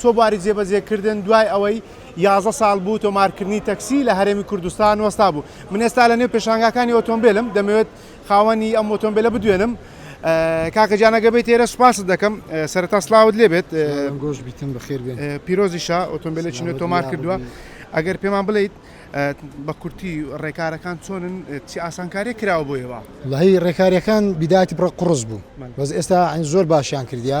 چووە بواری جێبەجێکردن، دوای ئەوەی یازدە ساڵ بوو تۆمارکردنی تەکسی لە هەرێمی کوردستان وەستابوو. من ئێستا لەنێو پێشانگاکانی ئۆتۆمبێلم، دەمەوێت خاوەنی ئەم ئۆتۆمبێلە بدوێنم. کاکە گیان ئەگەر بێیتە ئێرە سوپاست دەکەم. سەرەتا سڵاوت لێ بێت. سلاوان گۆش بیتن بەخێر بێن. پیرۆزیشە ئۆتۆمبێلێکی نوێت تۆمار کردووە. ئەگەر پێمان بڵێیت بە کورتی ڕێکارەکان چۆنن؟ چ ئاسانکارییەک کراوە بۆ ئێوە؟ وەڵاهی ڕێکارییەکان بیدایەتی بڕە قوڕس بوو. بەس ئێستا زۆر باشیان کردیە.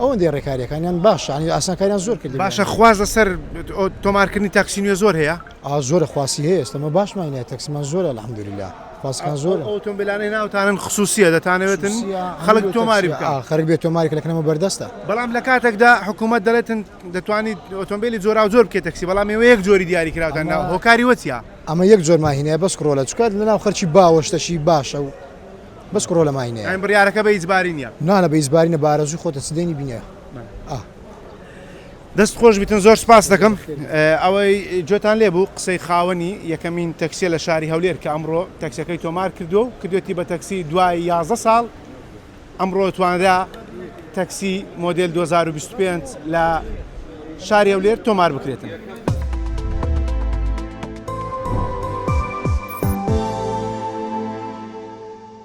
ئەوەندەی ڕێکاریەکانیان باش عنی ئاسانکاریان زۆر کرد باشە خواز لەسەر تۆمارکردنی تاکسی نوێ زۆر هەیە ئا زۆرە خواسی هەیە ئێستەمە باشمانە تەکسمان زۆرە الحمدلله خواستان زۆر ئۆتۆمبیلانەی ناوتانن خصوصیە دەتانەوێتن خەڵک تۆماری خەرک بێت تۆماری کەلەکەمە بەردەستە بەڵام لە کاتێکدا حکوومەت دەڵێتن دەتوانیت ئۆتۆمبیلی جۆرا زۆر بکە تەکسی بەڵام ێوە یەک جۆری دیاری کراوتان ناو هۆکاری وەچیا ئەمە یەک جۆرماهینە بەس کڕۆلە چکات لەناو خەرکی باوەشتەشی باشە و بەس کوڕۆ لە ماینە یان بڕارەکە بە ئیجباری نیە نانە بە ئیجباری نە بارەزوی خۆتە چ دێنی بینە ئا. دەست خۆش بیتن زۆر سپاس دەکەم ئەوەی جۆتان لێ بوو قسەی خاوەنی یەکەمین تەکسیە لە شاری هەولێر کە ئەمڕۆ تەکسەکەی تۆمار کردو و کردێتی بە تەکسی دوای 11 ساڵ ئەمڕۆ توانرا تەکسی مۆدل 2025 لە شاری هەولێر تۆمار بکرێتن.